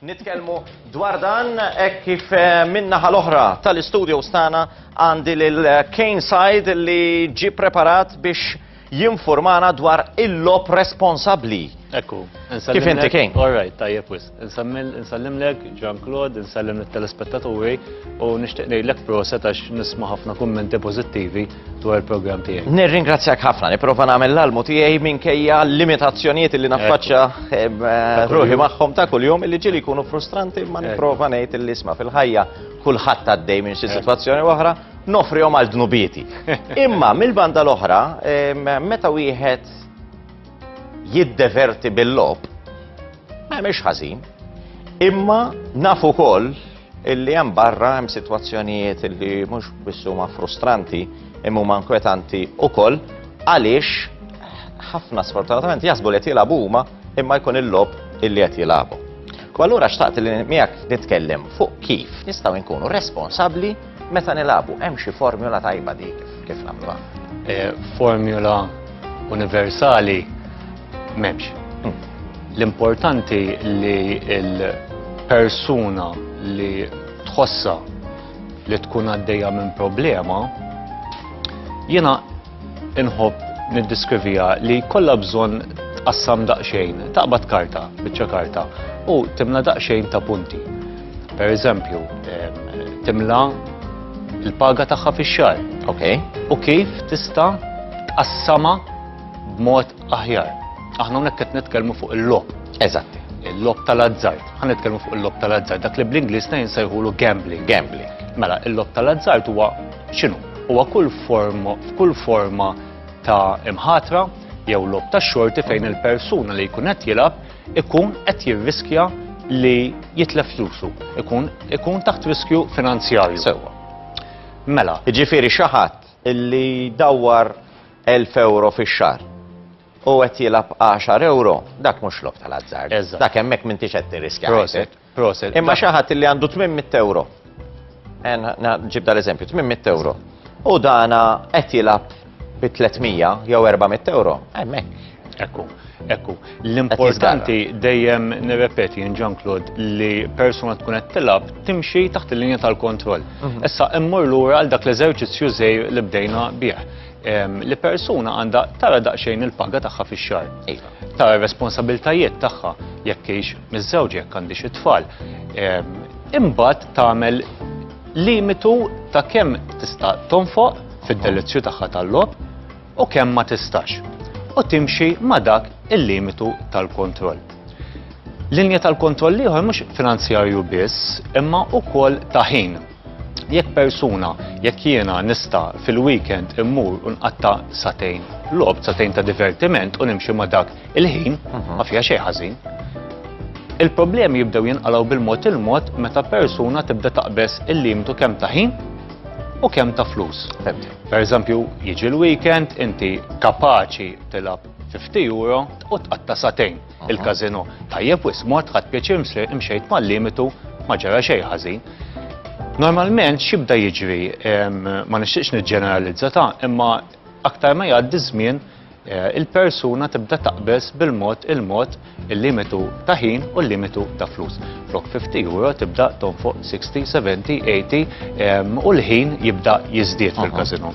Nitkellmu dwar dan hekk kif eh, min-naħa l-oħra tal-istudio stana għandi lil Kane Side li ġi preparat biex jinformana dwar il-lob responsabbli. Ekku, Kif inti Kane? All right, tajjeb wisq. Insallimlek, Jean Claude, insallem l-telespettaturi u nishtiq nejlek proset għax nisma ħafna kummenti pozittivi dwar il-program tijaj. Nirringrazzjak ħafna, niprofa namel l-almu tijaj minn kejja limitazzjoniet li naffaċċa eh, eh, ruħi maħħom ta' kull-jum li ġili kunu frustranti ma niprofa nejt l-isma fil-ħajja kullħat għaddej minn xi situazzjoni oħra nofri għal dnubieti. Imma mill-banda l-oħra, eh, meta wieħed jiddeverti bil-logħob ma jagħmilx ħażin. Imma nafu wkoll illi hemm barra hemm sitwazzjonijiet illi mhux biss huma frustranti imma huma inkwetanti wkoll għaliex ħafna sfortunatament jasbu li qed jilagħbu huma imma jkun il-lob illi qed jilagħbu. U allura xtaqt li miegħek nitkellem fuq kif nistgħu nkunu responsabbli Meta nilagħbu hemm xi formula tajba di kif nagħmluha? E, formula universali m'hemmx. Hmm. L-importanti li l-persuna li tħossa li tkun għaddejja minn problema jiena Inħobb niddeskriviha li kollha bżonn tqassam daqsxejn, taqbad karta, biċċa karta, u timla daqsxejn ta' punti. Per eżempju, timla il-paga tagħha fix-xar. Ok. U kif tista' tqassama b'mod aħjar. Aħna hawnhekk qed nitkellmu fuq il-lob. Eżatt. Il-lob tal-azzard. Ħa nitkellmu fuq il-lob tal-azzard. Dak li bl-Ingliż ta' jinsejħulu gambling. Gambling. Mela, il-lob tal-azzard huwa X'inhu? Huwa kull forma f'kull forma ta' imħatra jew lob ta' xorti fejn il-persuna li jkun qed jilgħab ikun qed jirriskja li jitlef flusu, ikun ikun taħt riskju finanzjarju. Sewwa. Mela. Jiġifieri xi ħadd illi jdawwar 1000 euro fix-xahar u qed jilgħab 10 euro, dak mhux lob tal-azzard. Dak hemmhekk m'intix qed tirriskja. Proset. Imma xi ħadd li għandu 800 euro. Ġib dal-eżempju, 800 euro. U dana qed jilgħab bi 300 jew 400 euro. Hemmhekk. Ekku. Ekku, l-importanti dejjem nirrepeti in John Claude li persuna tkun qed tilab timxi taħt il-linja tal-kontroll. Mhm. Issa immur lura għal dak l-eżerċizzju żejr li bdejna bih. Li persuna għandha tara daqsxejn il-paga tagħha fix-xahar. Iva. Tara responsabiltajiet tagħha jekk hix miżżewġa jekk għandix it-tfal, imbagħad tagħmel limitu ta' kemm tista' tonfoq fid-delizzju tagħha tal-logħob u kemm ma tistax. U timxi ma' dak il-limitu tal-kontroll. Linja tal-kontroll ieħor mhux finanzjarju biss, imma wkoll ta' ħin. Jekk persuna, jekk jiena nista fil-weekend immur u nqatta satejn lob, satejn ta' divertiment u nimxi ma' dak il-ħin, mhm. ma fija xejn ħażin. Il-problemi jibdew jinqalaw bil-mod il-mod meta persuna tibda taqbes il-limitu kemm ta' ħin u kemm ta' flus. Per eżempju, jiġi l-weekend inti kapaċi tilab 50 euro u tqatta satejn. il-każinò. Tajjeb wisq, mort ħadt pjaċir imxejt mal-limitu ma ġara xejn ħażin. Normalment x'ibda jiġri ma nixtieqx niġġeneralizza ta' imma aktar ma jgħaddi żmien eh, il-persuna tibda taqbeż bil-mod il-mod il-limitu ta' ħin u l-limitu ta' flus. Flok 50 euro tibda tonfoq 60, 70, 80 u l-ħin jibda jiżdied fil-kazino.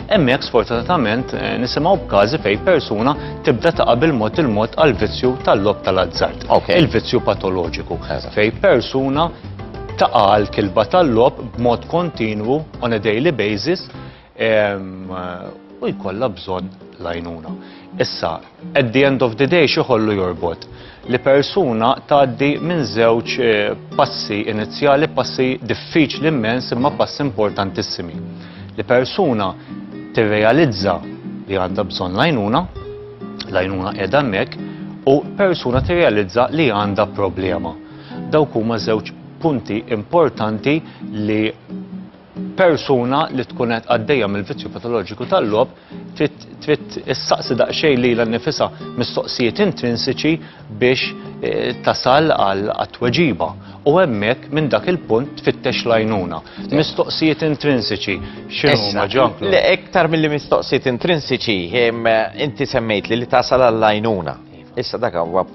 Hemmhekk sfortunatament eh, nisimgħu b'każi fejn persuna tibda taqa' bil-mod il-mod għal vizzju tal-lob tal-azzard. Il-vizzju patoloġiku. Fejn persuna taqa' għal kilba tal-lob b'mod kontinwu on a daily basis ehm, u jkollha bżonn l-għajnuna. Issa, At the end of the day x'iħollu jorbot? Li persuna tgħaddi minn żewġ eh, passi inizjali, passi diffiċli immens imma passi importantissimi. Li persuna tirrealizza li għandha bżonn lajnuna, lajnuna qiegħda hemmhekk, u persuna tirrealizza li għandha problema. Dawk huma żewġ punti importanti li persuna li tkun qed għaddejja mill-vizzju patoloġiku tal-logħob trid issaqsi daqsxejn lilha nnifisha mistoqsijiet intrinsiċi biex eh, tasal għal tweġiba u hemmhekk minn dak il-punt tfittex l-għajnuna. Mistoqsijiet intrinsiċi x'inhuma ġanklu? Le iktar milli mistoqsijiet intrinsiċi inti semmejt li li tasal għall-għajnuna. Iva. Issa dak huwa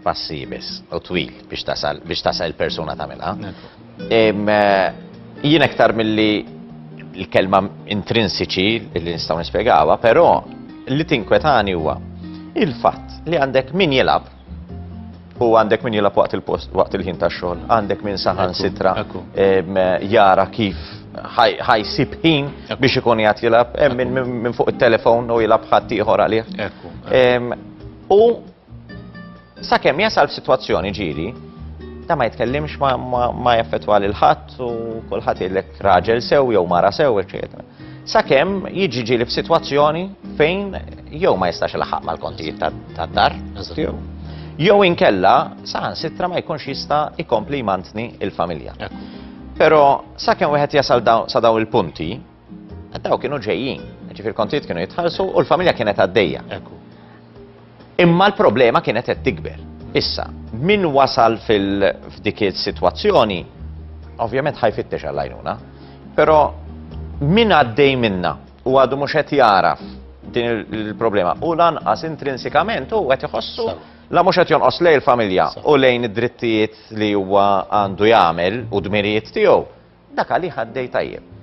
passi biss u twil biex tasal biex tasal il-persuna tagħmilha. Jien aktar milli l-kelma intrinsiċi li nistgħu nispjegawha, però li tinkwetani huwa il-fatt li għandek min jilab u għandek min jilab waqt il-post, waqt il-ħin ta' xogħol, għandek min saħan sitra jara kif ħajsib ħin biex ikun jgħat jilab, minn fuq il-telefon u jilab ħadd ieħor għalih. U Sakemm jasal f'sitwazzjoni ġieli, da ma jitkellimx ma jaffettwa lil ħadd u kulħadd jgħidlek raġel sew jew mara sew, eċetera. Sakemm jiġi ġieli f'sitwazzjoni fejn jew ma jistax laħaq mal-kontijiet tad-dar, jew inkella saħan sitra ma jkunx jista' ikompli jmantni il-familja. Pero sa' kem wieħed jasal sa' daw il-punti, Daw kienu ġejjin, ġifir kontijiet kienu jitħallsu u l-familja kienet għaddejja. Imma l-problema kienet qed tikber. Issa, min wasal fil-dik is-sitwazzjoni, ovvjament ħajfittex għall-għajnuna, però min għaddej minna u għadu mhux qed jaraf din il-problema u lanqas intrinsikament u qed iħossu la mhux qed jonqos lejn il-familja u lejn id-drittijiet li huwa għandu jagħmel u dmirijiet tiegħu Dak għalih għaddej tajjeb.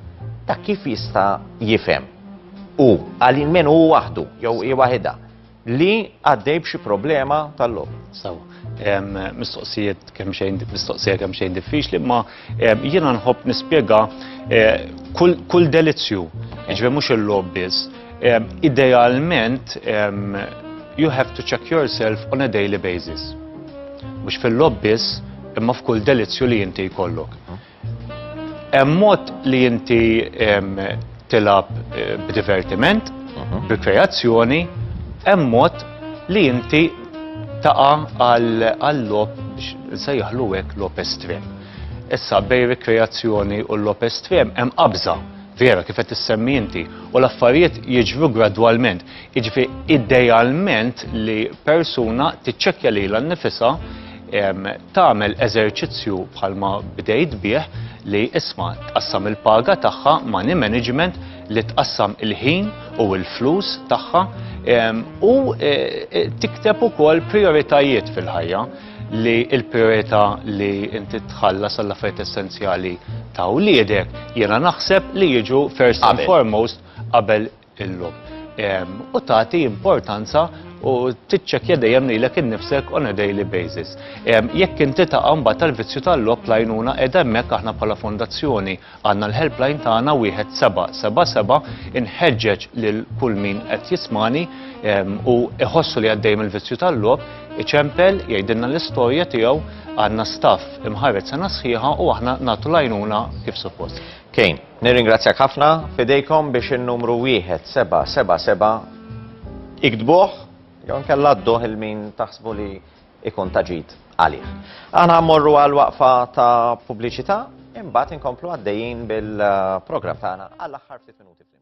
Dak kif jista' jifhem u għal min hu waħdu jew hi waħidha li għaddej b'xi problema tal-lob. Sawa, mistoqsijiet kemm xejn mistoqsija kemm xejn diffiċli, ma jiena nħobb nispjega eh, kull delizzju, ġve mhux il-lob biss. Idealment, you have to check yourself on a daily basis. Mhux fil-lob biss, imma f'kull delizzju li inti jkollok. Hemm mod li inti tilab eh, b'divertiment, mhm. bi kreazzjoni, hemm mod li inti taqa għall-lob biex nsejjaħlu hekk lob estrem. Issa bej rikreazzjoni u l-lob estrem hemm qabża vera kif qed issemmi inti u l-affarijiet jiġru gradwalment. Jiġri idealment li persuna tiċċekkja lilha nnifisha tagħmel eżerċizzju bħalma bdejt bih li isma' tqassam il-paga tagħha ma' ni management li tqassam il-ħin u l-flus tagħha u e, e, tikteb ukoll prioritajiet fil-ħajja li il-priorità li inti tħallas għall affarijiet essenzjali ta' wliedek jiena naħseb li jiġu first and foremost qabel illum. U tagħti importanza u tiċċekkja dejjem lilek innifsek on a daily basis. Jekk inti taqa' mbagħad tal-vizzju tal-lob lajnuna qiegħda hemmhekk aħna bħala fondazzjoni għandna l-helpline tagħna wieħed seba' seba' seba' inħeġġeġ lil kull min qed jismani u iħossu li għaddej mill-vizzju tal-lob iċempel jgħidilna l-istorja tiegħu għandna staff imħarret sena sħiħa u aħna nagħtu lajnuna kif suppost. Kejn, Nirringrazzjak ħafna, fidejkom biex in-numru wieħed seba' seba' seba' iktbuh jew nkella dduh il min taħsbu li ikun taġid għalih. Aħna mmorru għal waqfa ta' pubbliċità imbagħad inkomplu għaddejjin bil-programm tagħna għall-aħħar ftit minuti flimkien.